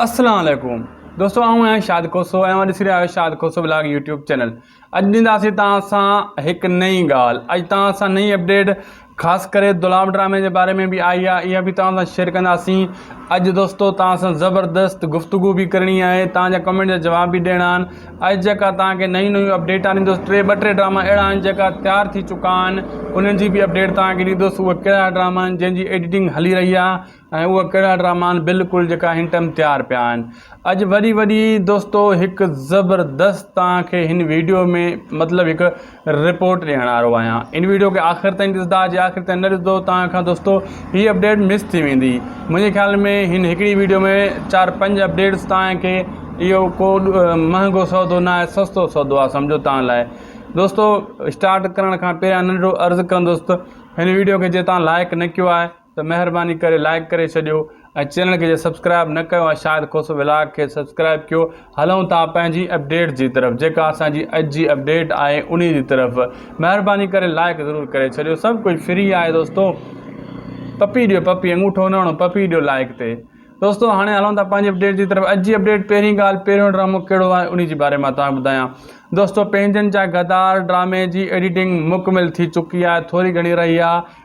اسلام عليڪم دوستو آئون آهيان شاد کوسو ۽ اوهان ڏسي رهيا آهيو شاد کوسو بلاگ يوٽيوب چينل اڄ ڏينداسي توهان سان هڪ نئين ڳالهه اڄ توهان سان نئين اپڊيٽ خاص ڪري دلام ڊرامي جي باري ۾ به آئي آهي اها به توهان سان شيئر ڪنداسين اڄ دوستو توهان سان زبردست گفتگو به ڪرڻي آهي توهان جا ڪمينٽ جا جواب به ڏيڻا آهن اڄ جيڪا توهان کي نيون نيون اپڊيٽ آندو ٽي ٻه ٽي ڊراما اهڙا آهن جيڪا تيار ٿي چڪا آهن انهن جي به اپڊيٽ توهان کي ڏيندوس اهي ڪهڙا ڊراما آهن جنهن جي ايڊيٽنگ هلي رهي آهي ۽ اهي ڪهڙا ڊراما آهن بلڪل جيڪا هن ٽائيم تيار پيا آهن اڄ وري وري دوستو هڪ زبردست توهان کي هن ويڊيو ۾ مطلب هڪ رپورٽ ڏيڻ وارو آهيان ان ويڊيو کي آخر تائين ڏسندا جي آخر تائين نه ڏسندو توهان کان دوستو هي اپڊيٽ مس ٿي ويندي منهنجي خيال ۾ هن هڪڙي ويڊيو ۾ چار پنج اپڊيٽس توهان کي اهو ڪو مهانگو سودو نه آهي سستو سودو آهي سمجھو توهان لاء دوستو اسٽارٽ ڪرڻ کان پهريان ننڍڙو عرض ڪندوس ته هن ويڊيو کي جي توهان لائڪ نه ڪيو آهي ته مهرباني ڪري لائيڪ ڪري ڇڏيو ۽ چينل کي جي سبسڪرائيب نه ڪيو آهي شاهد کوسو ولاگ کي سبسڪرائيب ڪيو هلون ٿا پنهنجي اپڊيٽ جي طرف جيڪا اسان جي اڄ جي اپڊيٽ آهي انهي جي طرف مهرباني ڪري لائيڪ ضرور ڪري ڇڏيو سڀ ڪجهه فري آهي دوستو پپي ڏيو پپي انگوٺو نه هڻو پپي ڏيو لائيڪ تي دوستو هاڻي هلون ٿا پنهنجي اپڊيٽ جي طرف اڄ جي اپڊيٽ پهرين ڳالهه پهريون ڊرامو ڪهڙو آهي انهي جي باري مان تان ٻڌايان دوستو پنهنجن جا غدار ڊرامي جي ايڊيٽنگ مڪمل ٿي چڪي آهي ٿوري گهڻي رهي آهي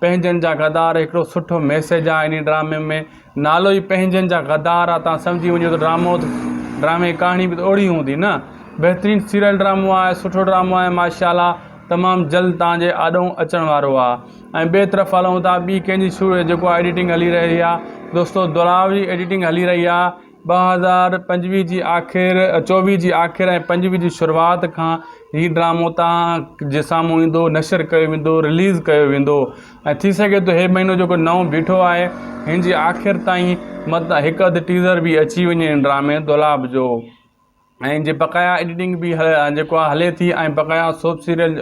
پنهنجن جا غدار هڪڙو سٺو ميسيج آ انهي ڊرامي ۾ نالو ئي پنهنجن جا غدار آ تان سمجهي وڃو ته ڊرامو ڊرامي جي ڪهاڻي به ته اوڙي هوندي نه بهترين سيريل ڊرامو آهي سٺو ڊرامو آهي ماشاء الله تمام جلد تان جي آڏو اچڻ وارو آ ۽ ٻي طرف هلون ٿا ٻي ڪنهنجي شو جيڪو آ ايڊيٽنگ هلي رهي آ دوستو دلاور جي ايڊيٽنگ هلي رهي آ ٻه هزار پنجويهه جي آخر چوويهه جي آخر ۽ پنجويهه جي شروعات کان هي ڊرامو توهان جي سامهون ايندو نشر ڪيو ويندو رليز ڪيو ويندو ۽ ٿي سگهي ٿو هي مهينو جيڪو نئون بيٺو آهي هن جي آخر تائين مت هڪ اڌ ٽيزر به اچي وڃي هن ڊرامي دولاب جو ۽ جي بقايا ايڊيٽنگ به جيڪو آهي هلي ٿي ۽ بقايا سوپ سيريل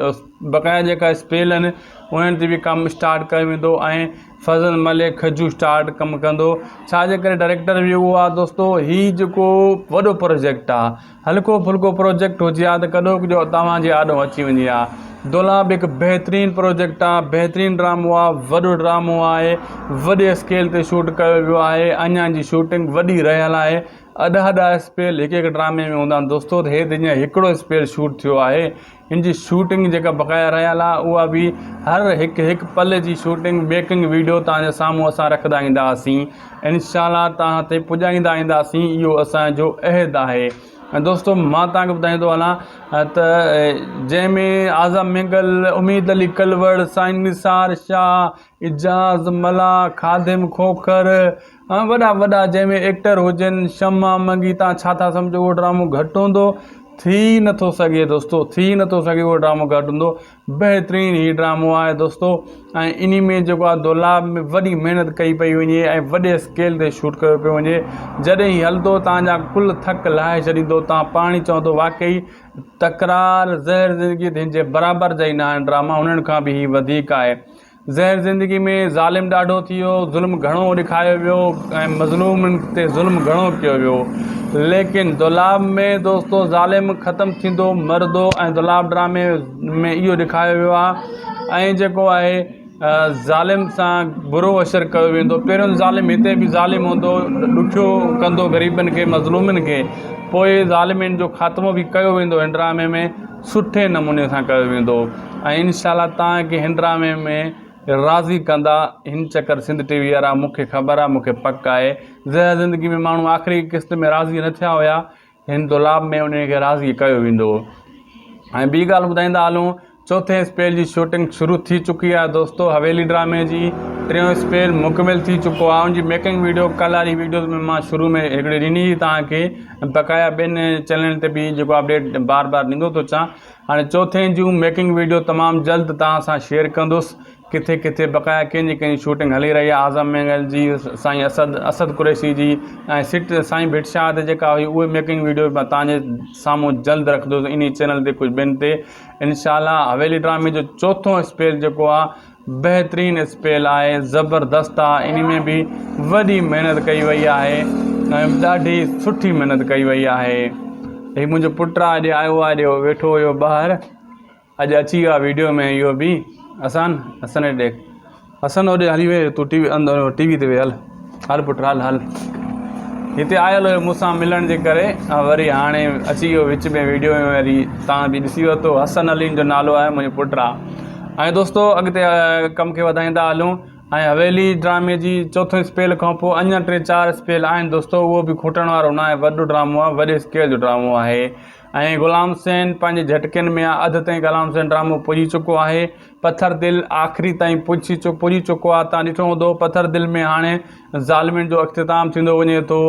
بقايا جيڪا اسپيل آهن انهن تي به ڪم اسٽارٽ ڪيو ويندو ۽ فضل ملڪ کجو اسٽارٽ ڪم ڪندو ڇاجي ڪري ڊائريڪٽر به اهو آهي دوستو هي جيڪو وڏو پروجيڪٽ آهي هلڪو ڦلڪو پروجيڪٽ هجي آ ته ڪڏو ڪجو توهان جي آڏو اچي وڃي آ دولا به هڪ بهترين پروجيڪٽ آهي بهترين ڊرامو آهي وڏو ڊرامو آهي وڏي اسڪيل تي شوٽ ڪيو ويو آهي اڃان جي شوٽنگ وڏي رهيل آهي ادا ادا اسپيل هڪ هڪ ڊرامي ۾ هوندا آهن دوستو ته هي دنيا هڪڙو اسپيل شوٽ ٿيو آهي هن جي شوٽنگ جيڪا بقايا رهيل آهي اها به هر هڪ هڪ پل جي شوٽنگ ميڪنگ ويڊيو توهان جي سامهون اسان رکندا اينداسين انشاء الله توهان تي پڄائيندا اينداسين اهو اسان جو عهد آهي ۽ دوستو مان توهان کي ٻڌائيندو هلان ته جنهن ۾ اعظم مينگل اميد علي ڪلوڙ سائين نثار شاهه اعجاز ملاح خادم کوکر وڏا وڏا جنهن ۾ ايڪٽر هجن شمع منگي تان ڇا ٿا سمجهو اهو ڊرامو گهٽ هوندو ٿي نٿو سگهي دوستو ٿي نٿو سگهي اهو ڊرامو گهٽ هوندو بهترين هي ڊرامو آهي دوستو ۽ انهي ۾ جيڪو آهي دولاب ۾ وڏي محنت ڪئي پئي وڃي ۽ وڏي اسڪيل تي شوٽ ڪيو پيو وڃي جڏهن هي هلندو تان جا ڪل ٿڪ لاهي ڇڏيندو تان پاڻ ئي چوندو واقعي تڪرار زهر زندگي تي هن جي برابر جا ئي نه آهن ڊراما هنن کان به هي وڌيڪ آهي زهر زندگي ۾ ظالم ڏاڍو ٿي ويو، ظلم گهڻو ڏيکايو ويو ۽ مظلومن تي ظلم گهڻو ڪيو ويو. ليڪن دولاب ۾ دوستو ظالم ختم ٿيندو مرندو ۽ دولاب ڊرامي ۾ اهو ڏيکايو ويو آهي ۽ جيڪو آهي ظالم سان برو اشر ڪيو ويندو پهريون ظالم هتي به ظالم هوندو ڏکيو ڪندو غريبن کي مظلومن کي پوء ظالمين جو خاتمو به ڪيو ويندو هن ڊرامي ۾ سٺي نموني سان ڪيو ويندو ۽ انشاء الله توهان کي هن ڊرامي ۾ راضي ڪندا هن چڪر سنڌ ٽي وي وارا مون کي خبر آهي مون کي پڪ آهي زهر زندگي ۾ ماڻهو آخري قسط ۾ راضي نه ٿيا هيا هن دولاب ۾ انهن کي راضي ڪيو ويندو ۽ ٻي ڳالهه ٻڌائيندا هلون چوٿين اسپيل جي شوٽنگ شروع ٿي چڪي آهي دوستو حويلي ڊرامي جي ٽيون اسپيل مڪمل ٿي چڪو آهي ان جي ميڪنگ ويڊيو ڪلهاري ويڊيوز ۾ مان شروع ۾ هڪڙي ڏني هئي توهان کي بقايا ٻين چينلن تي به جيڪو اپڊيٽ بار بار ڏيندو ٿو اچان هاڻي چوٿين جون ميڪنگ ويڊيو تمام جلد توهان سان شيئر ڪندس ڪٿي ڪٿي بقايا ڪنهن جي ڪنهن جي شوٽنگ هلي رهي آهي اعظم مينگل جي سائين اسد اسد قريشي جي ۽ سٽ سائين ڀٽ شاهه تي جيڪا هئي اهي ميڪنگ ويڊيو به توهان جي سامهون جلد رکندس انهي چينل تي ڪجهه ٻين تي انشاء الله حويلي ڊرامي جو چوٿون اسپيل جيڪو آهي بهترين اسپيل آهي زبردست آ انهي ۾ به وڏي محنت ڪئي وئي آهي ۽ ڏاڍي سٺي محنت ڪئي وئي آهي هي منهنجو پٽ آ اڄ آيو آ اڄ ويٺو هيو ٻاهر اڄ اچي ويو آ ويڊيو ۾ اهو به حسن حسن ڏيک حسن هوڏي هلي ويو تون ٽي وي اندر ٽي وي تي وي هل هل پٽ هل هل هتي آيل هيو مون سان ملڻ جي ڪري وري هاڻي اچي ويو وچ ۾ ويڊيو ۾ وري تان به ڏسي ورتو حسن عليم جو نالو آهي منهنجو پٽ آ ۽ دوستو اڳتي ڪم کي وڌائيندا هلون ۽ حويلي ڊرامي جي چوٿون اسپيل کان پوء اڃا ٽي چار اسپيل آهن دوستو اهو به کوٽڻ وارو ناهي وڏو ڊرامو آهي وڏي اسڪيل جو ڊرامو آهي ۽ غلام حسين پنهنجي جهٽڪين ۾ اڌ تائين غلام حسين ڊرامو پڄي چڪو آهي پٿر دل آخري تائين پڄي چڪو آهي توهان ڏٺو هوندو پٿر دل ۾ هاڻي ظالمين جو اختتام ٿيندو وڃي ٿو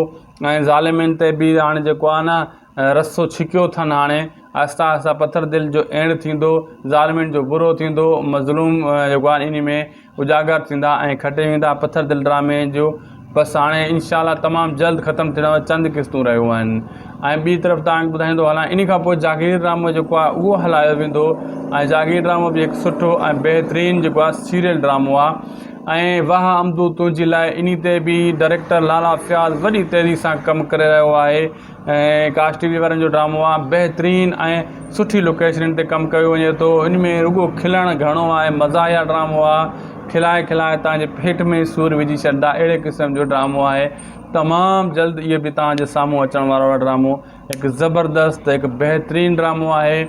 ۽ ظالمين تي به هاڻي جيڪو آهي نه رسو ڇڪيو اٿن هاڻي آهسته آهسته پٿر دل جو اينڊ ٿيندو ظالمين جو برو ٿيندو مظلوم جيڪو آهي ان ۾ اجاگر ٿيندا ۽ کٽي ويندا پٿر دل ڊرامي جو بس هاڻي انشاء الله تمام جلد ختم ٿيڻ واريون چند قسطون رهيون آهن ۽ ٻي طرف توهان کي ٻڌائيندو هلان ان کان پوء جاگير ڊرامو جيڪو آهي اهو هلايو ويندو ۽ جاگير ڊرامو به هڪ سٺو ۽ بهترين جيڪو آهي سيريل ڊرامو آهي ۽ واهه امدو تنهنجي لاء ان تي به ڊائريڪٽر لالا فياض وڏي تيزي سان ڪم ڪري رهيو آهي ۽ ڪاسٽ ٽي وي وارن جو ڊرامو آ بهترين ۽ سٺي لوڪيشنن تي ڪم ڪيو وڃي ٿو ان ۾ رڳو کلڻ گهڻو آهي مزاحيه ڊرامو آ کلائي کلائي تنهنجي پيٽ ۾ سور وجهي ڇڏندا اهڙي قسم جو ڊرامو آهي تمام جلد اهي به تنهنجي سامهون اچڻ وارو آ ڊرامو هڪ زبردست هڪ بهترين ڊرامو آهي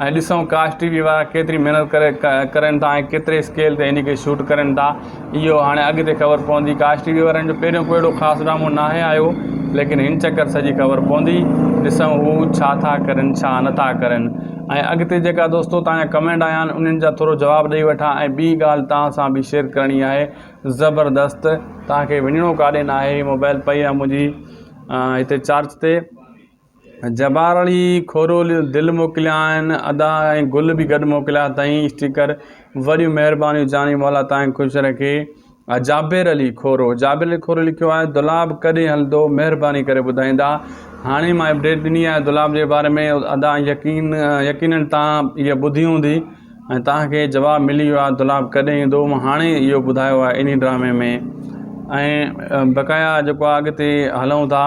۽ ڏسون ڪاش ٽي وي وارا ڪيتري محنت ڪري ڪرين ٿا ۽ ڪيتري اسڪيل تي ان کي شوٽ ڪرين ٿا اهو هاڻي اڳتي خبر پوندي ڪاش ٽي وي وارن جو پهريون ڪو اهڙو خاص ڊرامو ناهي آيو ليڪن هن چڪر سڄي خبر پوندي ڏسون هو ڇا ٿا ڪرين ڇا نه ٿا ڪرين ۽ اڳتي جيڪا دوستو توهان جا ڪمينٽ آيا آهن انهن جا ٿورو جواب ڏئي وٺان ۽ ٻي ڳالهه توهان سان به شيئر ڪرڻي آهي زبردست توهان کي وڃڻو ڪاڏي ناهي موبائل پئي آهي منهنجي هتي چارج تي جبار علي کورو دل موڪليائين ادا ۽ گل به گڏ موڪليا اٿائين اسٽيڪر وڏيون مهربانيون جاني مولا تانء خوش رکي جابر علي کورو جابر علي کورو لکيو آهي دولاب ڪڏهن هلندو مهرباني ڪري ٻڌائيندا هاڻي مان اپڊيٽ ڏني آهي دولاب جي باري ۾ ادا يقين يقينن تان هي ٻڌي هوندي ۽ تان کي جواب ملي ويو آهي دولاب ڪڏهن ايندو مان هاڻي اهو ٻڌايو آهي انهي ڊرامي ۾ ۽ بقايا جيڪو اڳتي هلون ٿا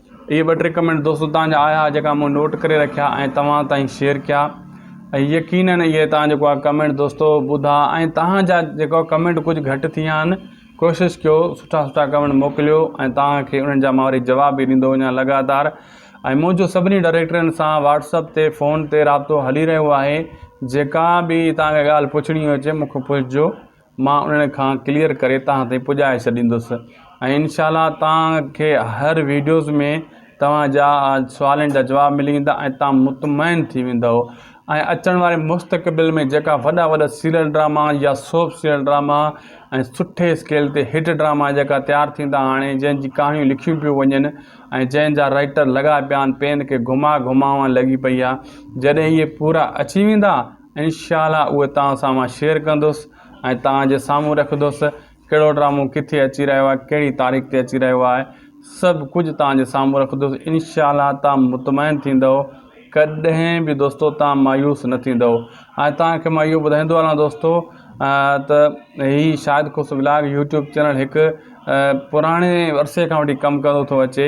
اهي ٻه ٽي ڪمينٽ دوستو تهان جا آيا جيڪا مون نوٽ ڪري رکيا ۽ توهان تائين شيئر ڪيا ۽ يقينن اهي تهان جيڪو آ ڪمينٽ دوستو ٻڌا ۽ تهان جا جيڪو ڪمينٽ ڪجهه گهٽ ٿي ويا آهن ڪوشش ڪيو سٺا سٺا ڪمينٽ موڪليو ۽ تهان کي انهن جا مان وري جواب به ڏيندو وڃان لڳاتار ۽ منهنجو سڀني ڊائريڪٽرن سان واتسپ تي فون تي رابطو هلي رهيو آهي جيڪا به تهان کي ڳالهه پڇڻي هجي مون کي پڇجو مان انهن کان ڪليئر ڪري توهان تائين پڄائي ڇڏيندس ۽ انشاء الله توهان کي هر ويڊيوز ۾ توهان جا سوالن جا جواب ملي ويندا ۽ توهان مطمئن ٿي ويندو ۽ اچڻ واري مستقبل ۾ جيڪا وڏا وڏا سيريل ڊراما يا سوپ سيريل ڊراما ۽ سٺي اسڪيل تي هٽ ڊراما جيڪا تيار ٿيندا هاڻي جنهن جي ڪهاڻيون لکيون پيون وڃن ۽ جنهن جا رائيٽر لڳا پيا آهن پين کي گهما گهماوان لڳي پئي آهي جڏهن اهي پورا اچي ويندا انشاء الله اهي توهان سان مان شيئر ڪندس ۽ توهان جي سامهون رکندس ڪهڙو ڊرامو ڪٿي اچي رهيو آهي ڪهڙي تاريخ تي اچي رهيو آهي سڀ ڪجهه توهان جي سامهون رکندس انشاء الله توهان مطمئن ٿيندو ڪڏهن به دوستو توهان مايوس نه ٿيندو ۽ توهان کي مان اهو ٻڌائيندو هلان دوستو ته هي شاهد خوش ولاگ يوٽيوب چينل هڪ پراڻي عرصي کان وٺي ڪم ڪندو ٿو اچي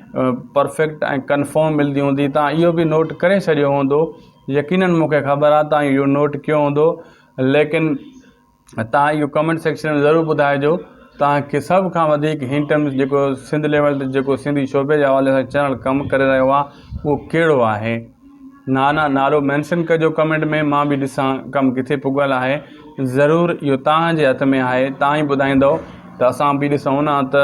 پرفيڪٽ ۽ ڪنفرم ملدي هوندي تان اهو به نوٽ ڪري ڇڏيو هوندو يقينن مونکي خبر آهي تان اهو نوٽ ڪيو هوندو ليڪن تان اهو ڪمينٽ سيڪشن ۾ ضرور ٻڌائجو تان کي سڀ کان وڌيڪ هن ٽائيم جيڪو سنڌ ليول تي جيڪو سنڌي شعبي جي حوالي سان چينل ڪم ڪري رهيو آهي اهو ڪهڙو آهي نا نا نالو مينشن ڪجو ڪمينٽ ۾ مان به ڏسان ڪم ڪٿي پڳل آهي ضرور اهو تان جي هٿ ۾ آهي تان ئي ٻڌائيندو ته اسان به ڏسون ها ته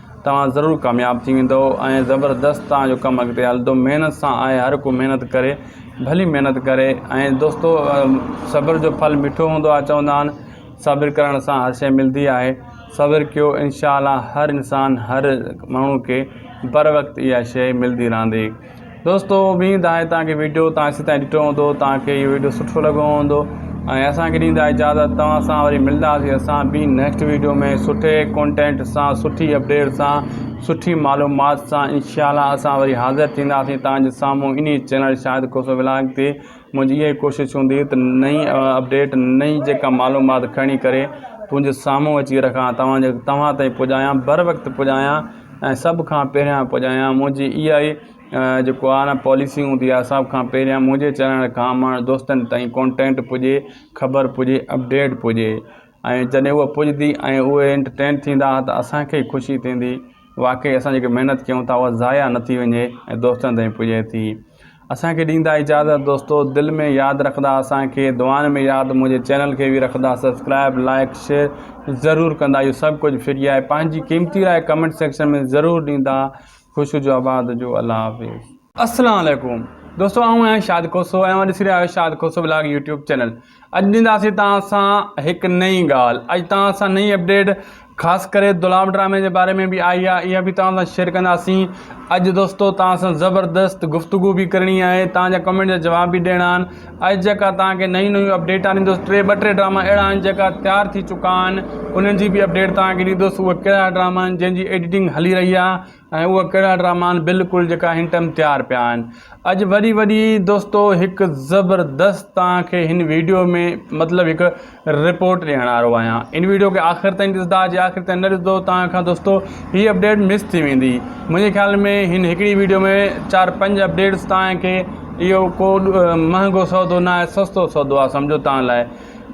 توهان ضرور ڪامياب ٿي ويندؤ ۽ زبردست توهان جو ڪم اڳتي هلندو محنت سان آهي هر ڪو محنت ڪري ڀلي محنت ڪري ۽ دوستو صبر جو ڦل مٺو هوندو آهي چوندا آهن صبر ڪرڻ سان هر شي ملدي آهي صبر ڪيو انشاء الله هر انسان هر ماڻهو کي بر وقت اها شي ملدي رهندي دوستو اميد آهي توهان کي ويڊيو توهان سي تائين ڏٺو هوندو توهان کي اهو ويڊيو سٺو لڳو هوندو ۽ اسان کي ڏيندا اجازت توهان سان وري ملنداسي اسان ٻي نيڪسٽ ويڊيو ۾ سٺي ڪونٽينٽ سان سٺي اپڊيٽ سان سٺي معلومات سان انشاء الله اسان وري حاضر ٿينداسي توهان جي سامهون انهي چينل شاهد کوسو ولاگ تي منهنجي اها ئي ڪوشش هوندي ته نئين اپڊيٽ نئين جيڪا معلومات کڻي ڪري تنهنجي سامهون اچي رکان توهان جي توهان تائين پڄايان بر وقت پڄايان ۽ سڀ کان پهريان پڄايان منهنجي اها ئي جيڪو آ نه پاليسي هوندي آ سڀ کان پهريان منهنجي چينل کان ماڻهو دوستن تائين ڪونٽينٽ پڄي خبر پڄي اپڊيٽ پڄي ۽ جڏهن هوء پڄدي ۽ اهي انٽرٽين ٿيندا ته اسان کي ئي خوشي ٿيندي واقعي اسان جيڪي محنت ڪيون ٿا اها ضايع نه ٿي وڃي ۽ دوستن تائين پڄي ٿي اسان کي ڏيندا اجازت دوستو دل ۾ ياد رکندا اسان کي دعائن ۾ ياد منهنجي چينل کي به رکندا سبسڪرائب لائيڪ شيئر ضرور ڪندا اهو سڀ ڪجهه فري آهي پنهنجي قيمتي راء ڪمينٽ سيڪشن ۾ ضرور ڏيندا خوش هجو آباد هجو الله حافظ. اسلام عليڪم دوستو آئون آهيان شاد کوسو ۽ اوهان ڏسي رهيا آهيو شاد کوسو بلاگ يوٽيوب چينل. اڄ ڏينداسين توهان سان هڪ نئين ڳالهه اڄ توهان سان نئين اپڊيٽ خاص ڪري دولام ڊرامي جي باري ۾ به آئي آهي اها به توهان سان شيئر ڪنداسين اڄ دوستو توهان سان زبردست گفتگو به ڪرڻي آهي توهان جا ڪمينٽ جا جواب به ڏيڻا آهن اڄ جيڪا توهان کي نيون نيون اپڊيٽ آندس ٽي ٻه ٽي ڊراما اهڙا آهن جيڪا تيار ٿي چڪا آهن انهن جي به اپڊيٽ توهان کي ڏيندس اهي ڪهڙا ڊراما آهن جنهن جي ايڊيٽنگ هلي رهي آهي ۽ اهي ڪهڙا ڊراما آهن بلڪل جيڪا هن ٽائيم تيار پيا آهن اڄ وري وري دوستو هڪ زبردست توهان کي هن ويڊيو ۾ مطلب هڪ رپورٽ ڏيڻ وارو آهيان ان ويڊيو کي آخر تائين ڏسندا جي آخر تائين نه ڏسندو توهان کان دوستو هي اپڊيٽ مس ٿي ويندي منهنجي خيال ۾ هن هڪڙي ويڊيو ۾ چار پنج اپڊيٽس توهان کي اهو ڪو مهانگو سودو نه آهي سستو سودو آهي سمجھو توهان لاء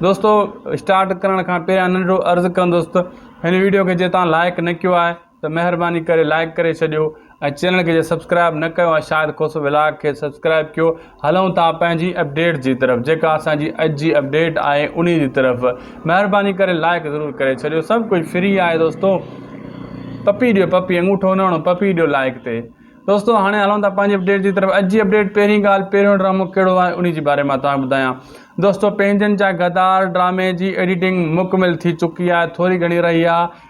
دوستو اسٽارٽ ڪرڻ کان پهريان ننڍڙو عرض ڪندوس ته هن ويڊيو کي جي توهان لائڪ نه ڪيو آهي ته مهرباني ڪري لائيڪ ڪري ڇڏيو ۽ چينل کي جي سبسڪرائيب نه ڪيو آهي شاهد کوسو ولاگ کي سبسڪرائيب ڪيو هلون ٿا پنهنجي اپڊيٽ جي طرف جيڪا اسان جي اڄ جي اپڊيٽ آهي انهي جي طرف مهرباني ڪري لائيڪ ضرور ڪري ڇڏيو سڀ ڪجهه فري آهي دوستو پپي ڏيو پپي انگوٺو نه هڻو پپي ڏيو لائيڪ تي دوستو هاڻي هلون ٿا پنهنجي اپڊيٽ جي طرف اڄ جي اپڊيٽ پهرين ڳالهه پهريون ڊرامو کيڙو آهي انهي جي باري مان توهان ٻڌايان دوستو پنهنجن جا غدار ڊرامي جي ايڊيٽنگ مڪمل ٿي چڪي آهي ٿوري گهڻي رهي آهي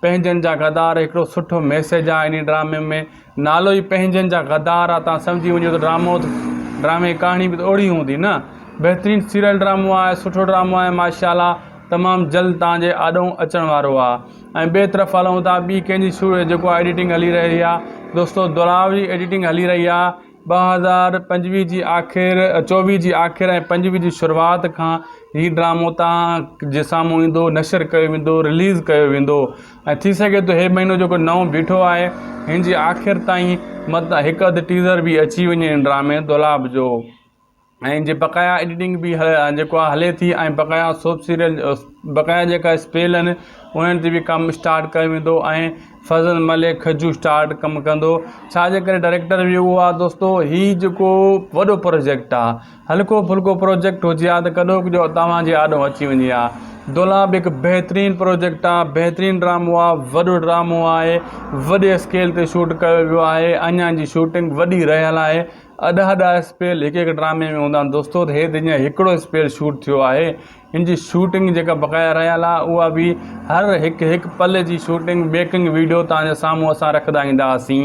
پنهنجن جا غدار هڪڙو سٺو ميسيج آ انهي ڊرامي ۾ نالو ئي پنهنجن جا غدار آ تان سمجهي وڃو ته ڊرامو ڊرامي جي ڪهاڻي به اوڙي هوندي نه بهترين سيريل ڊرامو آ سٺو ڊرامو آ ماشا الله تمام جلد تان جي آڏو اچڻ وارو آ ۽ ٻي طرف هلون ٿا ٻي ڪنهن جي شو جيڪو آ ايڊيٽنگ هلي رهي آ دوستو دلاور جي ايڊيٽنگ هلي رهي آ ٻه هزار پنجويهه جي آخر چوويهه جي آخر ۽ پنجويهه جي شروعات کان هي ڊرامو توهان جي سامهون ايندو نشر ڪيو ويندو رليز ڪيو ويندو ۽ ٿي سگهي ٿو هي مهينو جيڪو نئون بيٺو آهي هن جي آخر تائين مت هڪ اڌ ٽيزر به اچي وڃي هن ڊرامي دولاب جو ۽ ان جي بقايا ايڊيٽنگ به جيڪو آهي هلي ٿي ۽ بقايا سوپ سيريل بقايا جيڪا اسپيل آهن انهن تي به ڪم اسٽارٽ ڪيو ويندو ۽ فضل ملڪ کجو اسٽارٽ ڪم ڪندو ڇاجي ڪري ڊائريڪٽر به اهو آهي دوستو هي جيڪو وڏو پروجيڪٽ آهي هلڪو ڦلڪو پروجيڪٽ هجي ها ته ڪڏو ڪجو توهان جي آڏو اچي وڃي ها دولا به هڪ بهترين پروجيڪٽ آهي بهترين ڊرامو آهي وڏو ڊرامو آهي وڏي اسڪيل تي شوٽ ڪيو ويو آهي اڃان جي شوٽنگ وڏي رهيل آهي اڏا اڏا اسپيل هڪ هڪ ڊرامي ۾ هوندا آهن دوستو ته هي دنيا هڪڙو اسپيل شوٽ ٿيو آهي هن جي شوٽنگ جيڪا بقايا رهيل آهي اها به هر هڪ هڪ پل جي شوٽنگ ميڪنگ ويڊيو توهان جي سامهون اسان رکندا اينداسين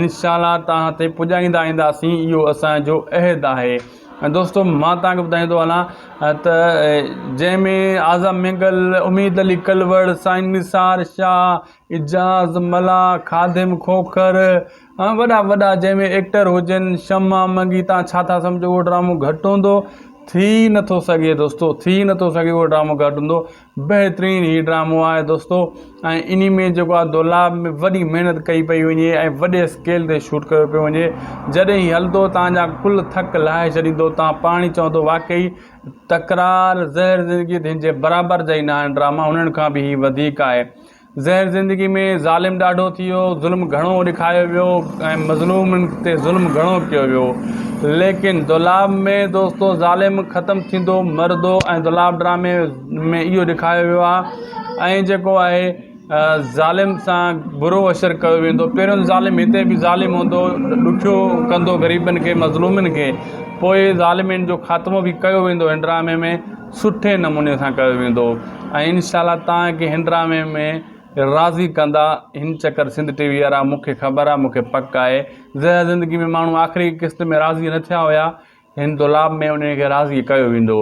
انشاء الله توهان تي پڄائيندا اينداسين اهو اسان جو عهد آهي ۽ دوستو مان توهان کي ٻڌائيندو هلان ته جنهن ۾ اعظم مينگل اميد علي ڪلوڙ سائين نثار شاهه اعجاز ملاح خادم کوکر ها وڏا وڏا جنهن ۾ ايڪٽر هجن شمع منگي تان ڇا ٿا سمجهو اهو ڊرامو گهٽ هوندو ٿي نٿو سگهي دوستو ٿي نٿو سگهي اهو ڊرامو گهٽ هوندو بهترين هي ڊرامو آهي دوستو ۽ انهي ۾ جيڪو آهي دولاب ۾ وڏي محنت ڪئي پئي وڃي ۽ وڏي اسڪيل تي شوٽ ڪيو پيو وڃي جڏهن هي هلندو تان جا ڪل ٿڪ لاهي ڇڏيندو تان پاڻي چوندو واقعي تڪرار زهر زندگي تي هن جي برابر جا ئي نه آهن ڊراما هنن کان به هي وڌيڪ آهي زهر زندگي ۾ ظالم ڏاڍو ٿي ويو، ظلم گهڻو ڏکايو ويو ۽ مظلومن تي ظلم گهڻو ڪيو ويو ليڪن دولاب ۾ دوستو ظالم ختم ٿيندو مرندو ۽ دولاب ڊرامي ۾ اهو ڏکايو ويو آهي ۽ جيڪو آهي ظالم سان برو اشر ڪيو ويندو پهريون ظالم هتي به ظالم هوندو ڏکيو ڪندو غريبن کي مظلومن کي پوء ظالمين جو خاتمو به ڪيو ويندو هن ڊرامي ۾ سٺي نموني سان ڪيو ويندو ۽ انشاء الله توهان کي هن ڊرامي ۾ راضي ڪندا هن چڪر سنڌ ٽي وي وارا مون کي خبر آهي مون کي پڪ آهي زهر زندگي ۾ ماڻهو آخري قسط ۾ راضي نه ٿيا هيا هن دولاب ۾ انهن کي راضي ڪيو ويندو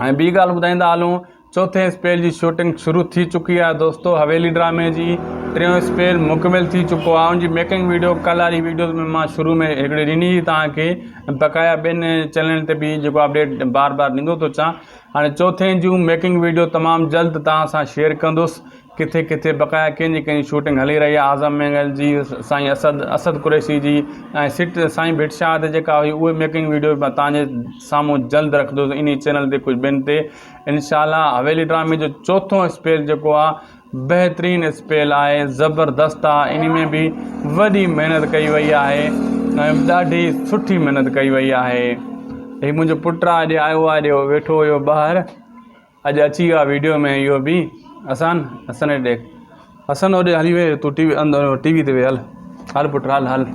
۽ ٻي ڳالهه ٻڌائيندا هلون چوٿين اسپيل جي شوٽنگ شروع ٿي چڪي آهي دوستو حويلي ڊرامي جي ٽيون اسپيل مڪمل ٿي چڪو آهي ان جي ميڪنگ ويڊيو ڪلهاري ويڊيوز ۾ مان شروع ۾ هڪڙي ڏني هئي توهان کي بقايا ٻين چينلن تي به جيڪو اپڊيٽ بار بار ڏيندو ٿو اچان هاڻي چوٿين جون ميڪنگ ويڊيو تمام جلد توهان سان شيئر ڪندس ڪٿي ڪٿي بقايا ڪنهن جي ڪنهن جي شوٽنگ هلي رهي آهي اعظم مينگل جي سائين اسد اسد قريشي جي ۽ سٽ سائين ڀٽ شاهه تي جيڪا هئي اهي ميڪنگ ويڊيو به توهان جي سامهون جلد رکندس انهي چينل تي ڪجهه ٻين تي انشاء الله حويلي ڊرامي جو چوٿون اسپيل جيڪو آهي بهترين اسپيل آهي زبردست آ انهي ۾ به وڏي محنت ڪئي وئي آهي ۽ ڏاڍي سٺي محنت ڪئي وئي آهي هي منهنجو پٽ آ اڄ آيو آ اڄ ويٺو هيو ٻاهر اڄ اچي ويو آ ويڊيو ۾ اهو به حسن حسن ڏيک حسن هوڏي هلي ويو تون ٽي وي اندر ٽي وي تي ويهه هل هل پٽ هل هل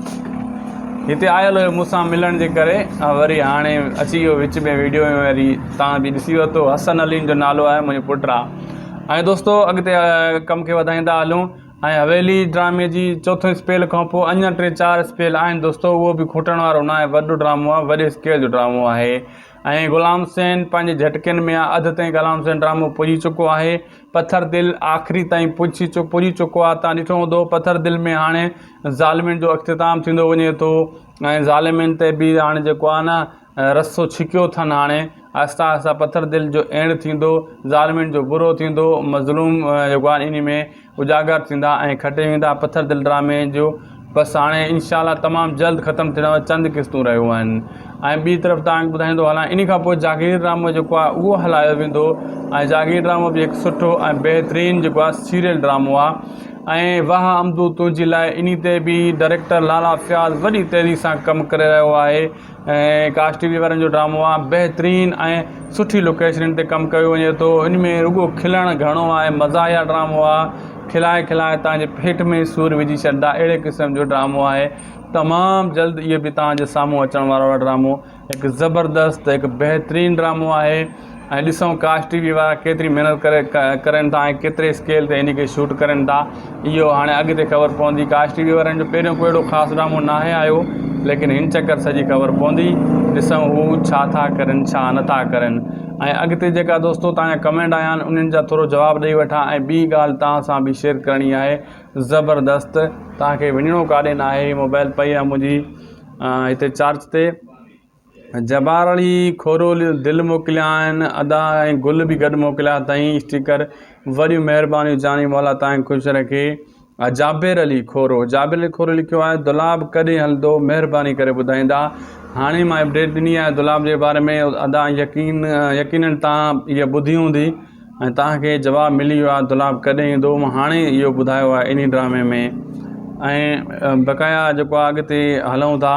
هتي آيل هيو مون سان ملڻ جي ڪري وري هاڻي اچي ويو وچ ۾ ويڊيو ۾ وري تان به ڏسي ورتو حسن عليم جو نالو آهي منهنجو پٽ آ ۽ دوستو اڳتي ڪم کي وڌائيندا هلون ۽ حويلي ڊرامي جي چوٿون اسپيل کان پوء اڃا ٽي چار اسپيل آهن دوستو اهو به کوٽڻ وارو نه آهي وڏو ڊرامو آهي وڏي اسڪيل جو ڊرامو آهي ۽ غلام حسين پنهنجي جھٽڪين ۾ آ اڌ تائين غلام حسين ڊرامو پڄي چڪو آهي پٿر دل آخري تائين پڄي چڪو آهي توهان ڏٺو هوندو پٿر دل ۾ هاڻي ظالمين جو اختتام ٿيندو وڃي ٿو ۽ ظالمين تي به هاڻي جيڪو آهي نه رسو ڇڪيو اٿن هاڻي آهسته آهسته پٿر دل جو اينڊ ٿيندو ظالمين جو برو ٿيندو مظلوم جيڪو آهن ان ۾ اجاگر ٿيندا ۽ کٽي ويندا پٿر دل ڊرامي جو بس هاڻي انشاء الله تمام جلد ختم ٿيڻ واريون چند قسطون رهيون آهن ۽ ٻي طرف توهان کي ٻڌائيندو هلان انهي کان پوء جاگير ڊرامو جيڪو آهي اهو هلايو ويندو ۽ جاگير ڊرامو به هڪ سٺو ۽ بهترين جيڪو آهي سيريل ڊرامو آهي ۽ واهه عمدو تنهنجي لاء انهي تي به ڊائريڪٽر لالا فياض وڏي تيزي سان ڪم ڪري رهيو آهي ۽ ڪاسٽ ٽي وي وارن جو ڊرامو آ بهترين ۽ سٺي لوڪيشنن تي ڪم ڪيو وڃي ٿو ان ۾ رڳو کلڻ گهڻو آهي مزاحيه ڊرامو آ کلائي کلائي تانجي پيٽ ۾ سور وجهي ڇڏدا اهڙي قسم جو ڊرامو آهي تمام جلد اهي به تانجي سامهون اچڻ وارو آ ڊرامو هڪ زبردست هڪ بهترين ڊرامو آهي ۽ ڏسون ڪاش ٽي وي وارا ڪيتري محنت ڪري ڪرين ٿا ۽ ڪيتري اسڪيل تي ان کي شوٽ ڪرين ٿا اهو هاڻي اڳتي خبر پوندي ڪاش ٽي وي وارن جو پهريون ڪو اهڙو خاص ڊرامو ناهي آيو ليڪن هن چڪر سڄي خبر پوندي ڏسون هو ڇا ٿا ڪرين ڇا نه ٿا ڪرين ۽ اڳتي جيڪا دوستو توهان جا ڪمينٽ آيا آهن انهن جا ٿورو جواب ڏئي وٺان ۽ ٻي ڳالهه توهان سان به شيئر ڪرڻي آهي زبردست توهان کي وڃڻو ڪاڏي ناهي موبائل پئي آهي منهنجي هتي چارج تي جبار علي کوروليو دل موڪليائين ادا ۽ گل به گڏ موڪليا اٿائين اسٽيڪر وڏيون مهربانيون جاني مولا تانکي خوش رکي جابر علي کورو جابر علي کورو لکيو آهي دولاب ڪڏهن هلندو مهرباني ڪري ٻڌائيندا هاڻي مان اپڊيٽ ڏني آهي دولاب جي باري ۾ ادا يقين يقينن تان هي ٻڌي هوندي ۽ تانکي جواب ملي ويو آهي دولاب ڪڏهن ايندو مان هاڻي اهو ٻڌايو آهي انهي ڊرامي ۾ ۽ بقايا جيڪو اڳتي هلون ٿا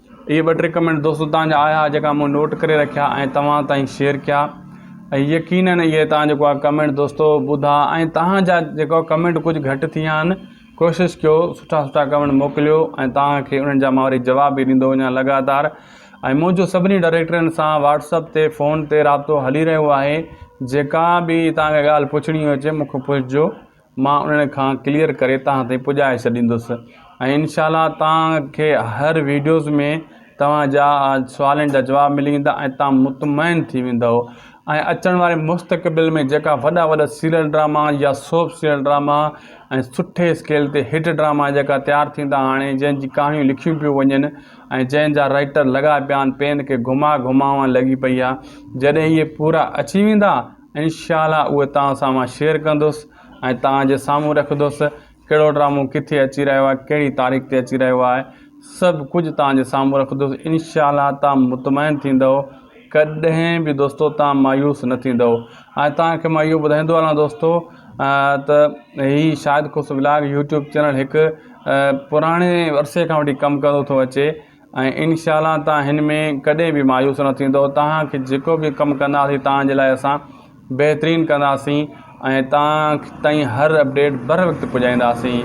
اهي ٻه ٽي ڪمينٽ دوست تان جا آيا جيڪا مون نوٽ ڪري رکيا ۽ توهان تائين شيئر ڪيا ۽ يقينن اهي تان جيڪو آ ڪمينٽ دوستو ٻڌا ۽ تان جا جيڪو ڪمينٽ ڪجهه گهٽ ٿي ويا آهن ڪوشش ڪيو سٺا سٺا ڪمينٽ موڪليو ۽ تان کي انهن جا مان وري جواب به ڏيندو وڃان لڳاتار ۽ منهنجو سڀني ڊائريڪٽرن سان واٽس اپ تي فون تي رابطو هلي رهيو آهي جيڪا به تان کي ڳالهه پڇڻي هجي مون کي پڇجو مان انهن کان ڪليئر ڪري توهان تائين پڄائي ڇڏيندس ۽ انشاء الله توهان کي هر ويڊيوز ۾ توهان جا سوالن جا جواب ملي ويندا ۽ توهان مطمئن ٿي ويندو ۽ اچڻ واري مستقبل ۾ جيڪا وڏا وڏا سيريل ڊراما يا سوپ سيريل ڊراما ۽ سٺي اسڪيل تي هٽ ڊراما جيڪا تيار ٿيندا هاڻي جنهن جي ڪهاڻيون لکيون پيون وڃن ۽ جنهن جا رائيٽر لڳا پيا آهن پين کي گهما گهماوان لڳي پئي آهي جڏهن اهي پورا اچي ويندا انشاء الله اهي توهان سان مان شيئر ڪندس ۽ توهان جي سامهون رکندس ڪهڙو ڊرامو ڪٿي اچي رهيو آهي ڪهڙي تاريخ تي اچي رهيو آهي سڀ ڪجهه توهان جي سامهون رکندس انشاء الله توهان مطمئن ٿيندو ڪڏهن به دوستو توهان مايوس نه ٿيندو ۽ توهان کي مان اهو ٻڌائيندو هلان دوستو ته هي شاهد خوش ولاگ يوٽيوب چينل هڪ پراڻي عرصي کان وٺي ڪم ڪندو ٿو اچي ۽ انشاء الله توهان هن ۾ ڪڏهن به مايوس نه ٿيندو توهان کي جيڪو به ڪم ڪنداسين توهان جي لاء اسان بهترين ڪنداسين ۽ توهان تائين هر اپڊيٽ بر وقت پڄائينداسين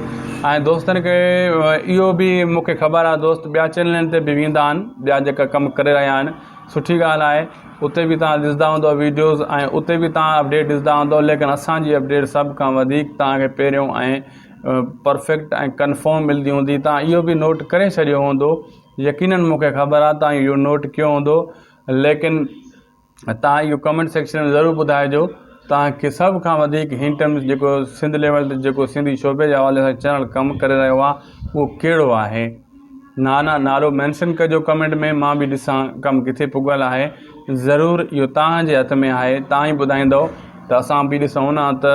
۽ دوستن کي اهو به مون کي خبر آهي دوست ٻيا چينلن تي به ويندا آهن ٻيا جيڪا ڪم ڪري رهيا آهن سٺي ڳالهه آهي اتي به توهان ڏسندا هوندو ويڊيوز ۽ اتي به توهان اپڊيٽ ڏسندا هوندو ليڪن اسان جي اپڊيٽ سڀ کان وڌيڪ توهان کي پهريون ۽ پرفيڪٽ ۽ ڪنفرم ملدي هوندي توهان اهو به نوٽ ڪري ڇڏيو هوندو يقينن مون کي خبر آهي توهان اهو نوٽ ڪيو هوندو ليڪن توهان اهو ڪمينٽ سيڪشن ۾ ضرور ٻڌائجو توهان کي سڀ کان وڌيڪ هن ٽائيم جيڪو سنڌ ليول تي جيڪو سنڌي شعبي جي حوالي سان چينل ڪم ڪري رهيو آهي اهو ڪهڙو آهي نا نا نالو مينشن ڪجو ڪمينٽ ۾ مان به ڏسان ڪم ڪٿي پڳل آهي ضرور اهو توهان جي هٿ ۾ آهي توهان ئي ٻڌائيندو ته اسان به ڏسون ها ته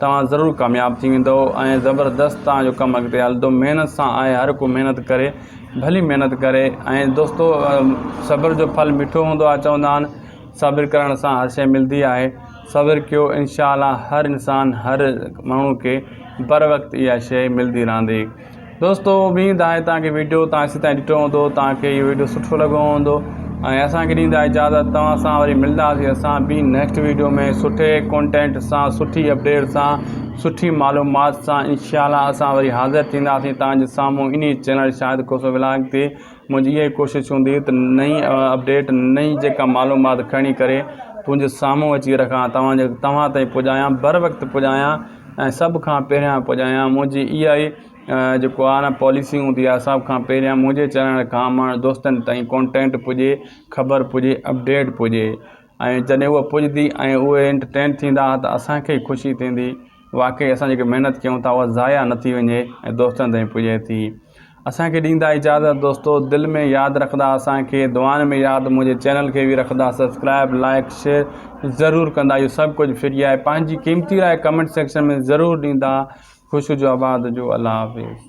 توهان ضرور ڪامياب ٿي ويندؤ ۽ زبردست توهان جو ڪم اڳتي هلندو محنت سان آهي هر ڪو محنت ڪري ڀلي محنت ڪري ۽ دوستو صبر جو ڦل مٺو هوندو آهي چوندا آهن صبر ڪرڻ سان هر شي ملدي آهي صبر ڪيو انشاء الله هر انسان هر ماڻهو کي بر وقت اها شي ملدي رهندي دوستو اميد آهي توهان کي ويڊيو توهان سي تائين ڏٺو هوندو توهان کي اهو ويڊيو سٺو لڳو هوندو ۽ اسان کي ڏيندا اجازت توهان سان وري ملنداسي اسان ٻي نيڪسٽ ويڊيو ۾ سٺي ڪونٽينٽ سان سٺي اپڊيٽ سان سٺي معلومات سان انشاء الله اسان وري حاضر ٿينداسي توهان جي سامهون انهي چينل شاهد کوسو ولاگ تي منهنجي اها ئي ڪوشش هوندي ته نئي اپڊيٽ نئي جيڪا معلومات کڻي ڪري تنهنجي سامهون اچي رکان توهان جي توهان تائين پڄايان بر وقت پڄايان ۽ سڀ کان پهريان پڄايان منهنجي اها ئي جيڪو آهي نه پاليسي هوندي آهي سڀ کان پهريان منهنجي چرڻ کان ماڻهن دوستن تائين ڪونٽينٽ پڄي خبر پڄي اپڊيٽ پڄي ۽ جڏهن هوء پڄندي ۽ اهي انٽرٽين ٿيندا ته اسان کي ئي خوشي ٿيندي واقعي اسان جيڪي محنت ڪيون ٿا اها ضايع نه ٿي وڃي ۽ دوستن تائين پڄي ٿي اسان کي ڏيندا اجازت دوستو دل ۾ ياد رکندا اسان کي دعائن ۾ ياد منهنجي چينل کي به رکندا سبسڪرائب لائڪ شيئر ضرور ڪندا اهو سڀ ڪجهه فري آهي پنهنجي قيمتي راء ڪمينٽ سيڪشن ۾ ضرور ڏيندا خوش هجو آباد هجو الله حافظ